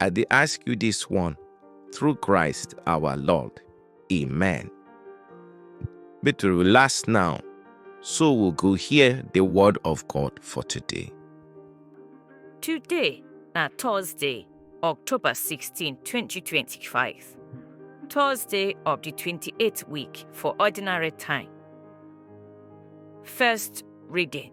I dey ask you this one through Christ our Lord. Amen. But we last now, so we'll go hear the word of God for today. Today na Thursday, October 16, 2025. Thursday of the 28th week for ordinary time. First reading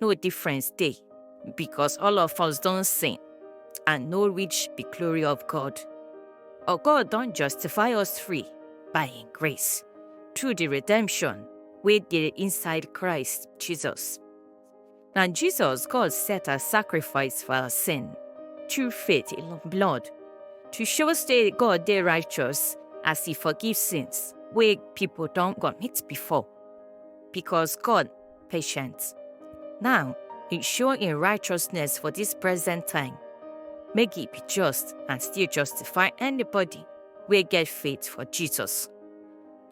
no difference dey because all of us don sin and no reach the glory of God. Our God don justify us free by Him grace through the redemption wey dey inside Christ Jesus. Na Jesus God set as sacrifice for our sin through faith in Him blood to show say God dey righteous as He forgive sins wey people don commit before because God patience. Now, e show im righteousness for dis present time, make e be just and still justify anybody wey get faith for Jesus.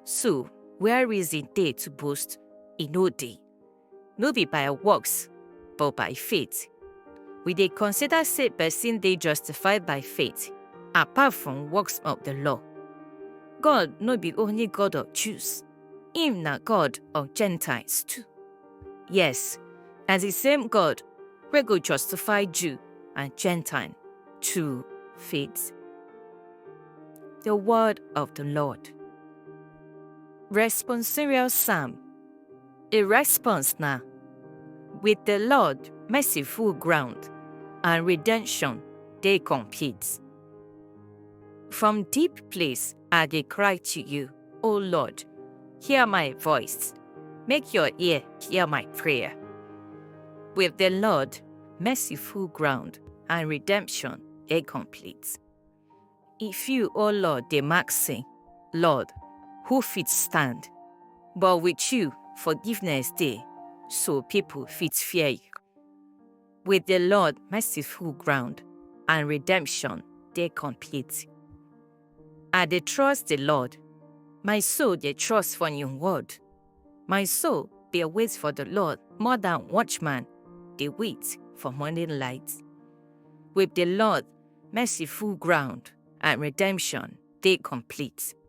So, where reason dey to boast? E no dey. No be by works, but by faith. We dey consider say person dey justified by faith, apart from works of the law. God no be only God of Jews, Him na God of Gentiles too. Yes, na the same God wey go justify Jew and Gentile to faith. The word of the Lord. Responsorial Psalm. A response na with the Lord merciful ground and redemption dey complete. From deep place I dey cry to you, O Lord, hear my voice. Make your ear hear my prayer. With the Lord, mercy full ground and redemption dey complete. If you, O Lord, dey mark sin, Lord, who fit stand? But with you, forgiveness dey, so people fit fear you. With the Lord merciful ground and redemption dey complete. I dey trust the Lord, my soul dey trust for him word. My soul dey wait for the Lord more than watchman dey wait for morning light. With the Lord merciful ground and redemption dey complete.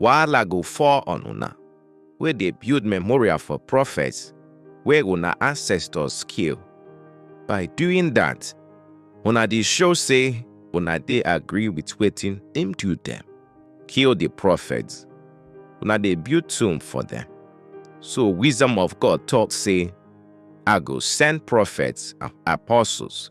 wahala go fall on una wey dey build memorial for prophets wey una ancestors kill. By doing that, una dey show say una dey agree with wetin dem do dem. Kill the prophets. Una dey build tomb for them. So wisdom of God talk say, I go send prophets and apostles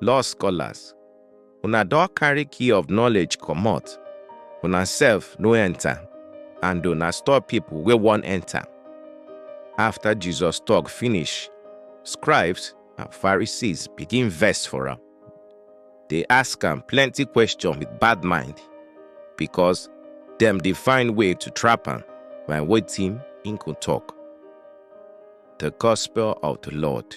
Law scholars, una don carry key of knowledge comot, una sef no enter and una stop people wey wan enter. After Jesus talk finish, scribes and Pharisees begin vex for am. They ask am plenty question with bad mind because dem dey find way to trap am by wetin im go talk. The Gospel of the Lord.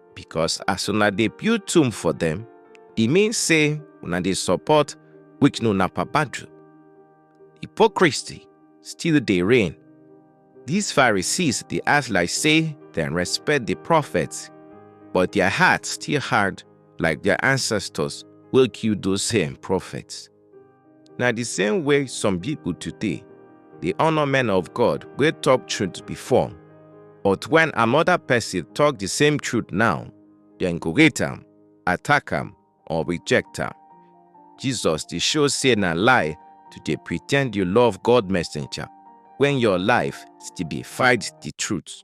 because as una dey build tomb for dem, e mean say una dey support Wiknu na Papadu. Hypocrisy still dey reign. These Pharisees dey act like say dem respect the prophets, but their heart still hard like their ancestors wey kill those same prophets. Na the same way some people today dey honor men of God wey talk truth before, but when another person talk the same truth now, dem go hate am, attack am, or reject am. Jesus dey show say na lie to dey pretend you love God messenger when your life still dey fight the truth.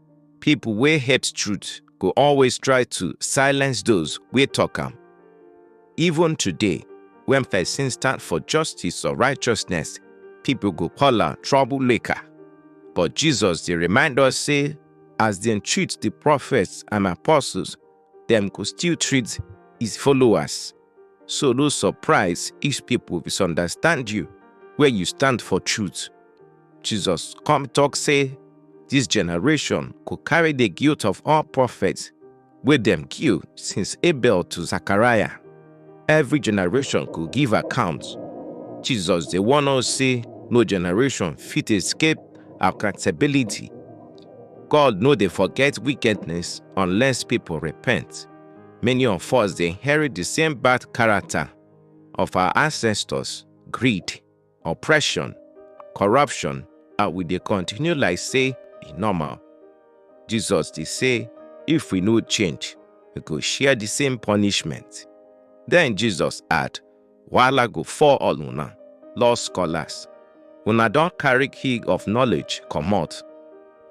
People wey hate truth go always try to silence those wey talk am. Even today, when person stand for justice or righteousness, people go call am troublemaker. But Jesus dey remind us say as dem treat the prophets and apostles, dem go still treat his followers. So no surprise if people misunderstand you where you stand for truth. Jesus come talk say, this generation go carry the guilt of all prophets wey dem kill since Abel to Zachariah. Every generation go give account. Jesus dey warn us say no generation fit escape accountability. God no dey forget wickedness unless people repent. Many of us dey inherit the same bad character of our ancestors, greed. oppression, corruption, and we dey continue like say e normal. Jesus dey say if we no change, we go share the same punishment. Then Jesus add, Wahala go fall all una, law scholars. Una don carry key of knowledge comot.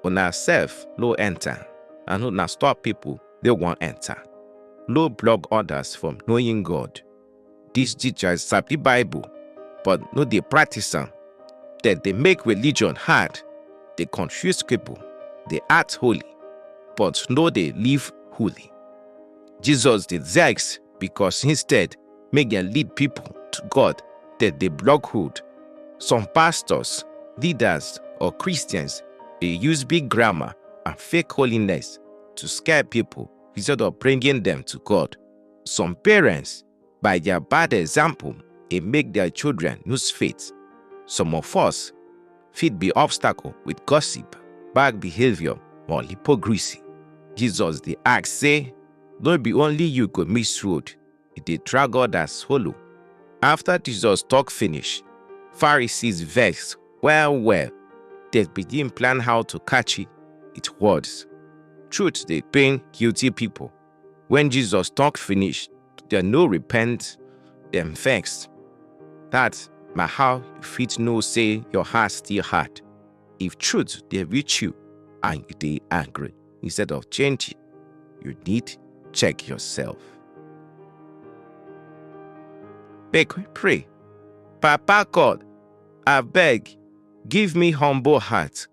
Una sef no enter, and una stop people dey wan enter. No block others from knowing God. These teachers sabi Bible but no dey practice am. Dem dey make religion hard, dey confuse people, dey act holy but no dey live holy. Jesus dey vex because instead make dem lead people to God, dem dey block road. Some pastors, leaders or Christians dey use big grammar and fake holiness to scare people instead of bringing them to God. Some parents, by their bad example, dey make their children lose faith. Some of us fit be obstacle with gossip, bad behavior, or hypocrisy. Jesus dey ask say, no be only you go miss road, e dey drag others follow. After Jesus talk finish, Pharisees vex well well. They begin plan how to catch it with words. Truth dey pain guilty people. When Jesus talk finish, dem no repent, dem vex. That na how you fit know say your heart still hard. If truth dey reach you and you dey angry instead of changing, you need check yourself. Make we pray. Papa God, abeg, give me humble heart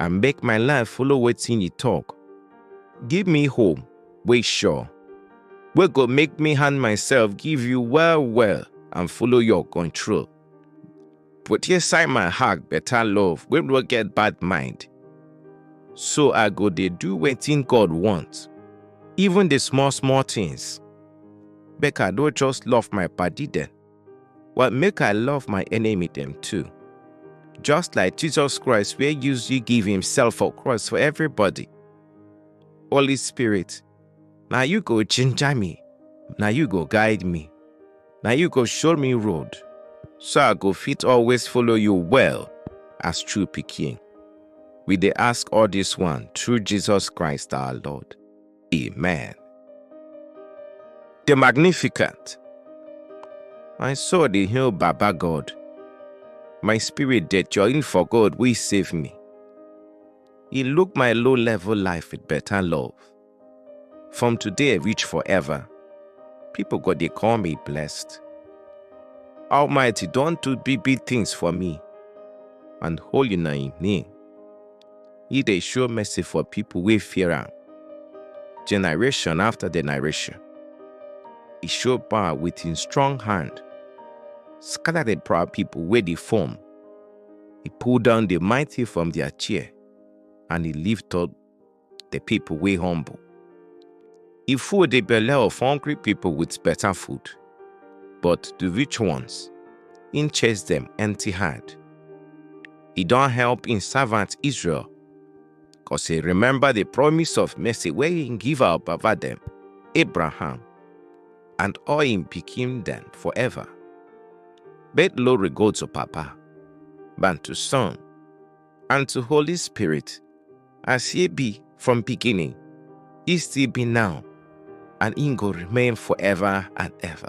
I make my life follow wetin you talk. Give me hope wey sure, wey go make me hand myself give you well well and follow your control. Put inside my heart better love wey no get bad mind. So I go dey do wetin God want, even the small small things. Make I no just love my body dem. Well, make I love my enemy them too. Just like Jesus Christ, where use you give himself for cross for everybody. Holy Spirit, now you go ginger me. Now you go guide me. Now you go show me road. So I go fit always follow you well as true picking. We they ask all this one through Jesus Christ our Lord. Amen. The Magnificent. My soul dey hail Baba God. My spirit dey join for God wey save me. He look my low level life with better love. From today reach forever, people go dey call me blessed. Almighty don do big big things for me, and holy na im name. He dey show mercy for people wey fear am, generation after generation. He show power with him strong hand, scatter the proud people wey dey form. He pull down the mighty from their chair, and he lift up the people wey humble. He full the belle of hungry people with better food, but the rich ones, he chase them empty hand. he don help im servant Israel. Cause he remember the promise of mercy wey he give our baba dem, Abraham, and all im pikin dem forever. Make glory go to Papa, and to Son, and to Holy Spirit, as he be from beginning, he still be now, and he go remain forever and ever.